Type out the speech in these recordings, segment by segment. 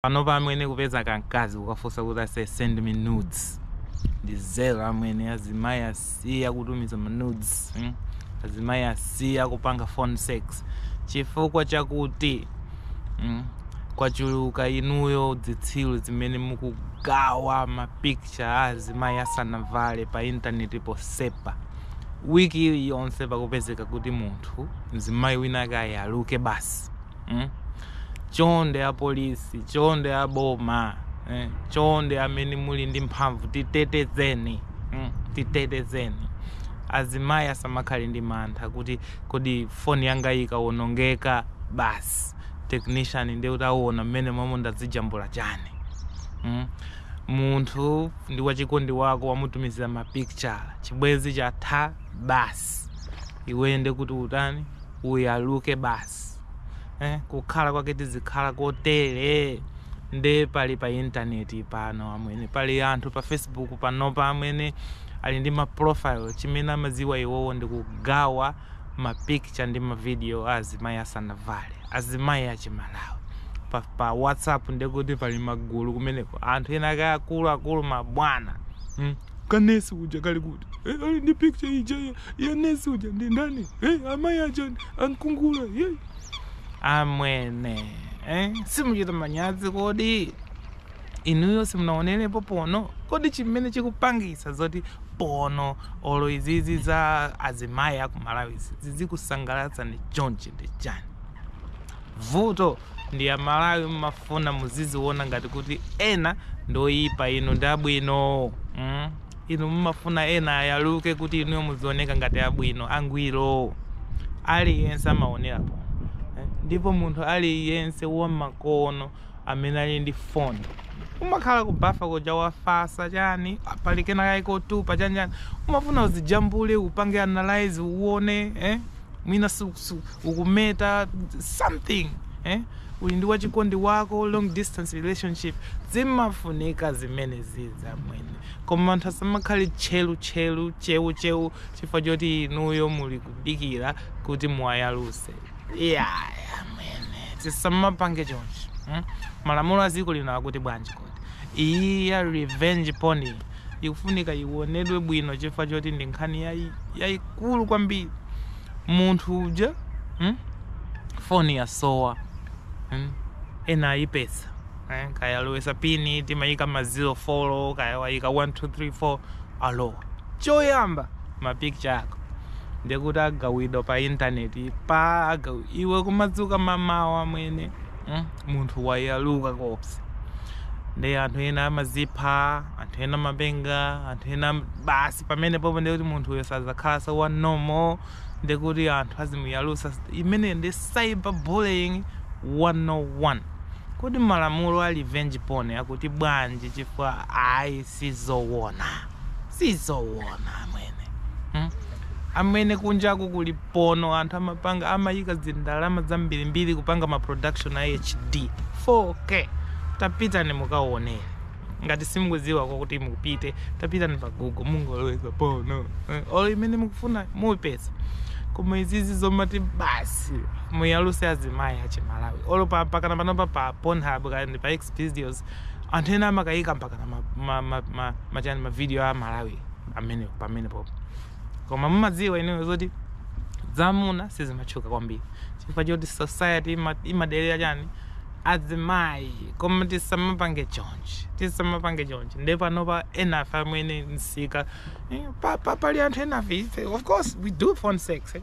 Panopa amwene kupeza ka mkazi kukafunsa kuti ase send me nudes ndi zero amwene, azimai asiya kutumiza ma nudes mm? azimai asiya kupanga phone sex chifukwa chakuti mm? kwachuluka inuyo dzitsiru zimene mukugawa ma picture a azimai asanavale pa intaneti posepa wiki iliyonse pakupezeka kuti munthu mzimai wina wake ayaluke basi mm? chonde a polisi chonde a boma eh? chonde amene muli ndi mphamvu titetezeni mm? titetezeni azimayi asamakhale ndi mantha kuti kodi foni yanga ikawonongeka basi technician ndiye kuti awona mmene momwe ndazijambula chani mm? munthu ndi wachikondi wako wamutumizira mapicture chibwenzi chatha basi iwe nde kuti utani uyaluke basi basi eh, kukhala kwake tizikhala kotere nde pali pa intaneti pano amwene pali anthu pa facebook panopa amwene ali ndi ma profile chimene amadziwa iwowo ndi kugawa ma picture ndi ma video a azimayi asanavale azimayi achimalawi pa, pa whatsapp ndekuti pali magulu kumeneko anthu ena ake akulu akulu mabwana mm. Ka nurse uja kali kuti? Eh, ali ndi picture ija ya, ya nurse uja ndi ndani? Eh, amayi aja ankungula. Yei. amwene eh? simuchita manyazi kodi inuyo simunaonerepo pono kodi chimene chikupangisa zoti pono olo izizi za azimayi akumalawi zizikusangalatsani chonchi ndi chani vuto Ndi amalawi mmafuna muziziwona ngati kuti ena ndioyipa inu ndi abwino mm inu mmafuna ena ayaluke kuti inuyo muzioneka ngati abwino angwiro aliyense amawonera po eh? ndipo munthu aliyense wamakono amene ali ndi phone umakhala kubafa kuja wafasa chani pali kena kaye kotupa chanjani umafuna uzijambule upange analyze uone eh? mwina ukumeta something eh? uli ndi wachikondi wako long distance relationship zimafunika zimene zija amwene koma anthu asamakhale tchelu tchelu chewu chewu chifukwa choti inuyo muli kudikira kuti muwayaluse yeah, yeah, amwene tisamapange chonchi hmm? malamulo a dziko lino akuti bwanji Iyi ya revenge porn ikufunika iwonedwe bwino chifukwa choti ndi nkhani yayi- yayikulu kwambiri munthu uja mm? foni yasowa mm? ena ayipeza eh? kaya alowesa pini timayika ma 04 kaya wayika 1234 alowa choyamba mapicture ako ndikuti agawidwa pa intaneti pa agawi iwe kumadzuka mamawa amwene mm? munthu wayaluka kopsa ndi anthu ena amazipha anthu ena amapenga anthu ena am- basi pamene popo ndikuti munthu uyo sazakhalanso wa nomo ndikuti anthu azimuyalusa imene ndi cyber bullying 101 kodi malamulo a revenge porn akuti bwanji chifukwa ayi Sizowona. Sizowona, amwene. Hmm? Amwene, kunjaku kuli pono, anthu amapanga, amayika zindalama zambiri mbiri kupanga ma production a HD. 4K. Tapitani mukawonere. Ngati simukuziwa kwa kuti mupite, tapitani pa Google, mungoloweza pono. Eh, Olo imene mukufuna, mupeza. Koma izizi zomati basi, muyaluse azimayi achimalawi. Olo mpa, mpakana panopa pa Pornhub, kaya ndi pa Xvideos, Anthu ena amakaika mpakana ma, ma, ma, ma, machani ma video a Malawi amene pamene popo. Koma mumadziwa inuyo zoti zamuna sizimatchuka kwambiri chifukwa choti society ima- imadelera chani azimayi koma tisamapange chonchi tisamapange chonchi nde panopa enafe amene nsika eh, pa- pa- pali anthu enafe ife of course we do phone sex eh?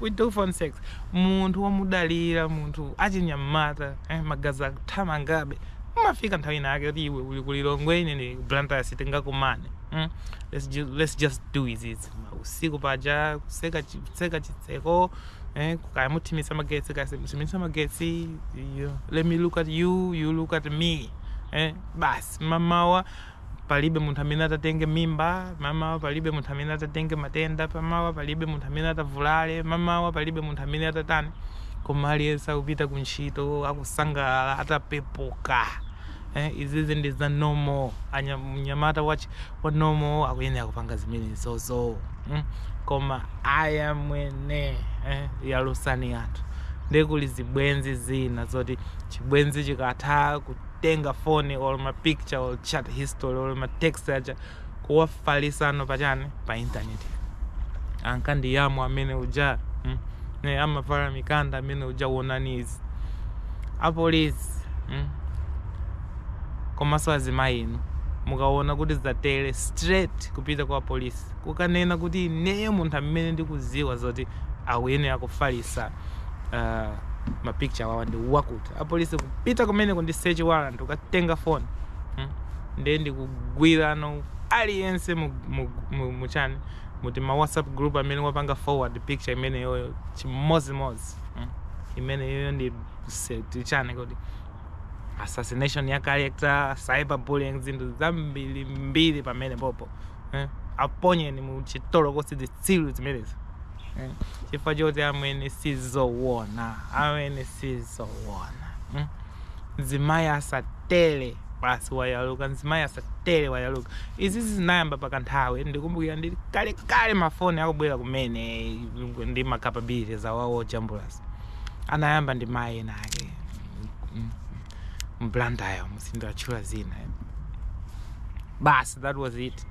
we do phone sex munthu womudalira munthu achinyamata eh? magazi akuthamangabe Imafika nthawi ina yake kuti iwe uli ku Lilongwe ine ndili ku Blantyre sitingakumane. Mm? Let's just, let's just do izizi. Usiku paja kutseka chi- kutseka chitseko eh kaya muthimitsa magetsi kaya simuthimitsa magetsi you- let me look at you you look at me. Eh basi mamawa Palibe munthu amene atatenge mimba mamawa, palibe munthu amene atatenge matenda mamawa, palibe munthu amene atavulale mamawa, palibe munthu amene atatani, koma aliyense akupita ku ntchito akusangalala atapepuka. Eh, izizi ndi za nomo mnyamata wa, wa nomo akuyenera kupanga zimenezozo mm? koma ayi amwene eh, yalusani anthu nde kuli zibwenzi zina zoti chibwenzi chikatha kutenga phone or ma picture or chat history or ma text aja kuwafalisano pachani pa internet ankandiyamwa amene uja mm, ne amavala mikanda amene uja wonani izi apolisi mm, komanso azimayi inu mukaona kuti zatere straight kupita kwa polisi kukanena kuti ineyo munthu amene ndikuziwa zoti akuyenera kufalisa uh, ma picture wawa ndi wakuti apolisi kupita kumeneko ndi search warrant kukatenga phone hmm? ndiye ndikugwirano aliyense muchani mu tima whatsapp group amene wapanga forward picture imeneyoyo chimodzimodzi hmm? imeneyoyo ndi chani kodi assassination ya character cyberbullying zinthu zambiri mbiri pamene popo eh? aponyeni mu chitolokosi zitsiru zimenezi eh? chifukwa choti amwene sizowona amwene sizowona hmm? mzimayi asatele basi wayaluka mzimayi asatele wayaluka izi zinayamba pakanthawi ndikumbukira ndi kalekale mafoni akubwera kumene ndi macapabilities awawo jambulasi anayamba ndi mayi ena ake Mm. mBlantyremo sindiwatchula zina eh? basi that was it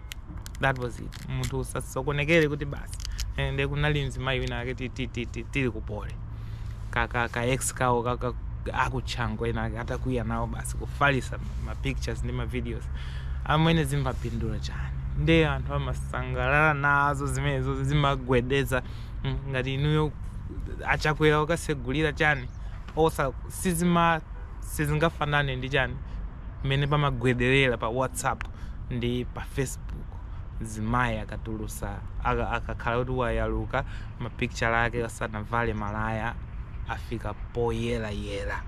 that was it munthu usasokonekere kuti basi eh, nde kunali mzimayi wina ake ti- ti- ti- ti- tili ku Poly ka ka ka ex kawo ka- ka- aku Chanco ena ake atakwiya nawo basi kufalisa ma pictures ndi ma videos amwene zimapindula chani nde anthu amasangalala nazo zimenezo zimagwedeza mm, ngati inuyo achakwera ukasegulira chani OSA sizima sizingafanane ndi chani mmene pamagwederera pa whatsapp ndi pa facebook zimayi akatulusa aka- akakhala kuti wayaluka mapicture ake asanavale malaya afika poyerayera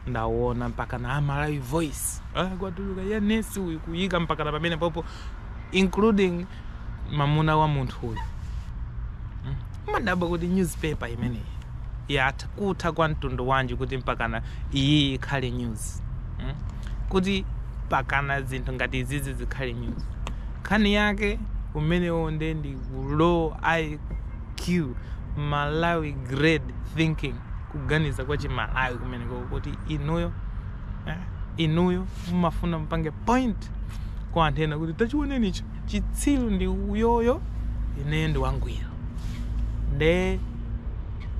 ndawona mpaka na a Malawi Voice ah, kwatuluka ya nesi uyu kuyika mpaka na pamene popo including mamuna wa munthu uyu mm. umadabwa kuti newspaper imeneyi yatha kutha kwa mtundu wanji kuti mpakana iyi ikhale news mm. kuti mpakana zinthu ngati izizi zikhale news nkhani yake imeneyo nde ndi low iq malawi grade thinking kuganiza kwa chimalawi kumeneko kuti inuyo eh, inuyo mumafuna mpange point kwa anthu ena kuti tachiwoneni icho chitsiru ndi uyoyo ineyo ndi wangwiro nde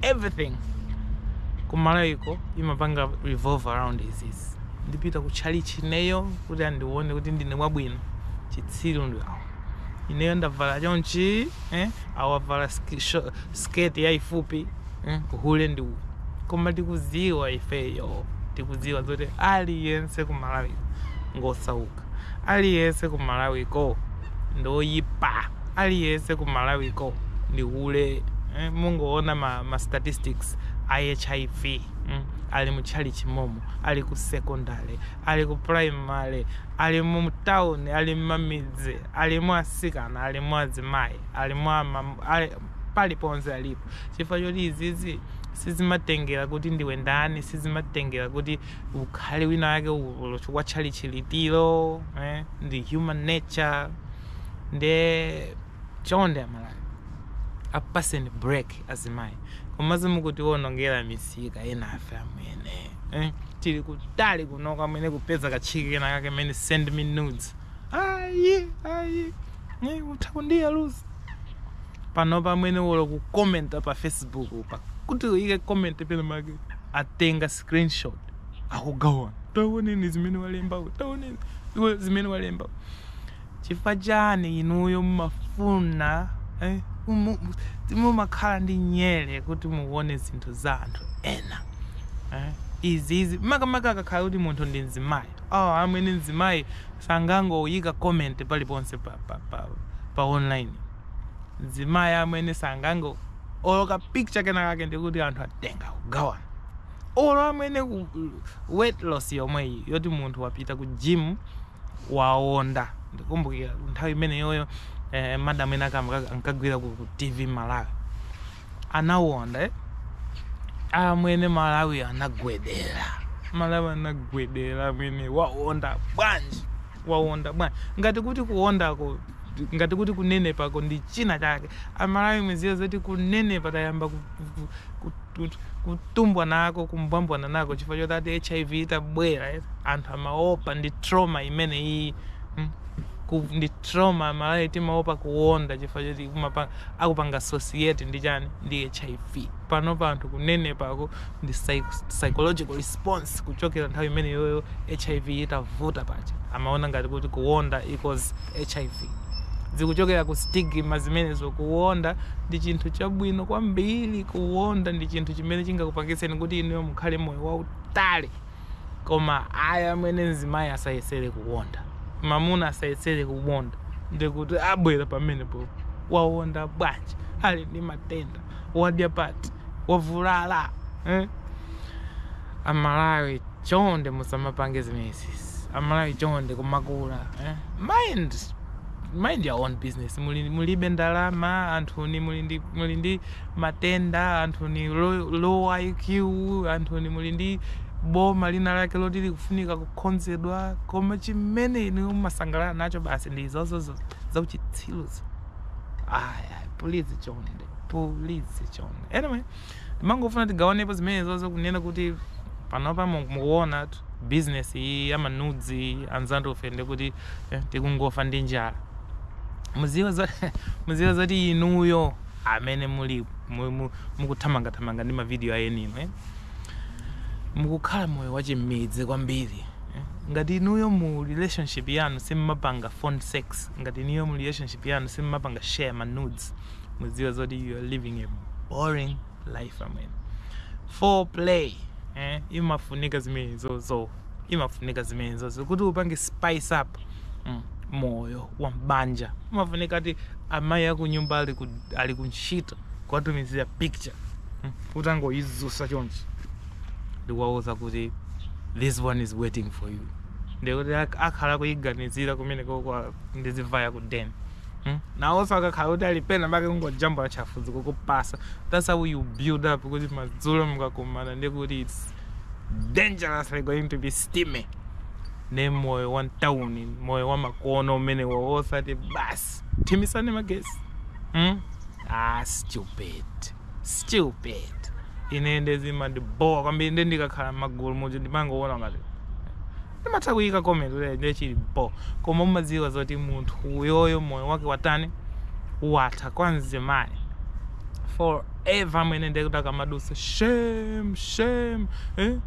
everything kumalawiko imapanga revolve around izizi ndipita ku chalichi ineyo kuti andione kuti ndine wabwino chitsiru ndi awo ineyo ndavala chonchi eh? awavala ski- sho- skirt yaifupi uhule ndi uwu koma tikuziwa ifeyo tikuziwa zoti aliyense ku Malawi ko ngosauka aliyense ku Malawi ko ndoyipa aliyense ku Malawi ko ndi hule eh, mungoona ma, ma statistics a HIV mm, ali mu chalichi momo ali ku secondary ali ku primary ali mu town ali mmamidzi ali mu asikana ali mu azimayi ali mu ama- ali- paliponse alipo chifukwa choti izizi sizimatengera kuti ndiwe ndani sizimatengera kuti ukhale wina wake olo chifukwa tchalitchi litilo eh? ndi human nature nde chonde amalawi apaseni break azimayi komanso mukutionongera misika enafe amwene eh? tili kutali kunoko amwene kupeza katchiki kena kake mene send me nudes ayi ayi eh, utha kundiyalutsa panopa amwene olo kukomenta pa facebook pa kuti uyike comment pena pake atenga screenshot akugawana taoneni zimene walembawo taoneni iwe zimene walemba chifukwa chani inuyo mumafuna eh, umu- mumakhala ndi nyere kuti muone zinthu za anthu ena eh, izi izi makamaka akakhala kuti munthu ndi mzimayi awa amwene mzimayi sangangoyika comment paliponse pa pa pa pa online mzimayi amwene sangango olo ka picture kena kake ndekuti anthu atenga kugawana olo amwene ku weight loss yomweyi yoti munthu wapita ku gym waonda ndikukumbukira nthawi imeneyoyo eh, madam ena kake ankagwira ku ku tv malawi anawonda amwene malawi anagwedera malawi anagwedera amwene wawonda bwanji wawonda bwanji ngati kuti kuwondako ngati kuti kunenepako ndi china chake amalawi mudziwe zoti kunenepa tayamba ku- ku- ku- ku- kutumbwa nako kumbwambwana nako chifukwa choti ati hiv itabwera eh, anthu amaopa ndi trauma imene iyi mm, ku- ndi trauma amalawi timaopa kuwonda chifukwa choti kumapanga akupanga associate ndi chani ndi hiv panopa anthu kunenepako ndi psych- psychological response kuchokera nthawi imene iyoyo hiv itavuta paja amaona ngati kuti kuwonda equals hiv zikuchokera ku stigma zimenezo kuwonda ndi chinthu chabwino kwambiri kuwonda ndi chinthu chimene chingakupangitseni kuti inuyo mukhale moyo wautali koma ayi amwene mzimayi asayesere kuwonda mamuna asayesere kuwonda ndekuti abwera pamenepo wawonda bwanji ali ndi matenda wadya pati wavulala eh? amalawi chonde musamapange zimenezisi amalawi chonde kumakula eh? mind mind your own business muli, mulibe ndalama anthuni muli ndi, muli ndi matenda, anthuni low IQ, anthuni muli ndi boma lina lake loti likufunika kukhonzedwa, koma chimene inuyo mumasangalala nacho basi ndi izozozo zauchitsiruzo. Aya, pulizi chonde, pulizi chonde. Anyway, ndimangofuna tigawanepo zimenezozo kunena kuti panopa mu- mukuonatu business iyi ya manudzi anzanufe ndekuti eh, tikungofa ndi njala mudziwe za mudziwe zoti inuyo amene muli mukuthamangathamanga ndi mavidiyo a eniake e mukukhala moyo wachimmidzi kwambiri e ngati inuyo mu relationship yanu simmapanga phone sex ngati inuyo mu relationship yanu simmapanga share ma nudes mudziwe zoti you are living a boring life amwene foreplay eh imafunika zimenezozo imafunika zimenezozo kuti upange spice up mm, moyo wa mbanja imafunika eti amayi akunyumba ali ku, ali ku ntchito kuwatumizira picture mm, utangoyizusa chonchi ndikuwauza kuti this one is waiting for you ndikuti ak- akhala kuyiganizira kumene koma ndizivaya ku den mm? nawonso akakhala kuti ali pena pake kungojambula chamfuzi kukupasa that's how you build up kuti madzulo mukakumana ndikuti its dangerously going to be steamy ne moyo wa mtawuni moyo wa makono umenewo wosati basi thimisani magesi hmm? ah, stupid stupid ine nde zimandibhowa kwambiri nde ndikakhala magulu muja ndimangoona ngati Ndimatha kuyika comment kuti nde chili bho koma umadziwa zoti munthu uyoyo moyo wake watani watha kwa mzimayi forever amwene nde kuti akamadusa shame shame eh?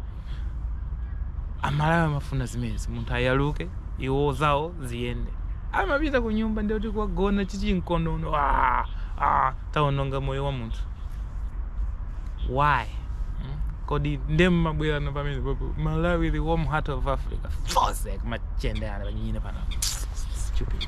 amalawi amafuna zimenezi munthu ayaluke iwo zawo ziyende akapita ku nyumba nde kuti kukagona chichinkonono ah, ah. tawononga moyo wa munthu why mm? kodi nde mumabwera ndi pamenepo poti malawi the warm heart of africa futseki machende anu panyini panu stupid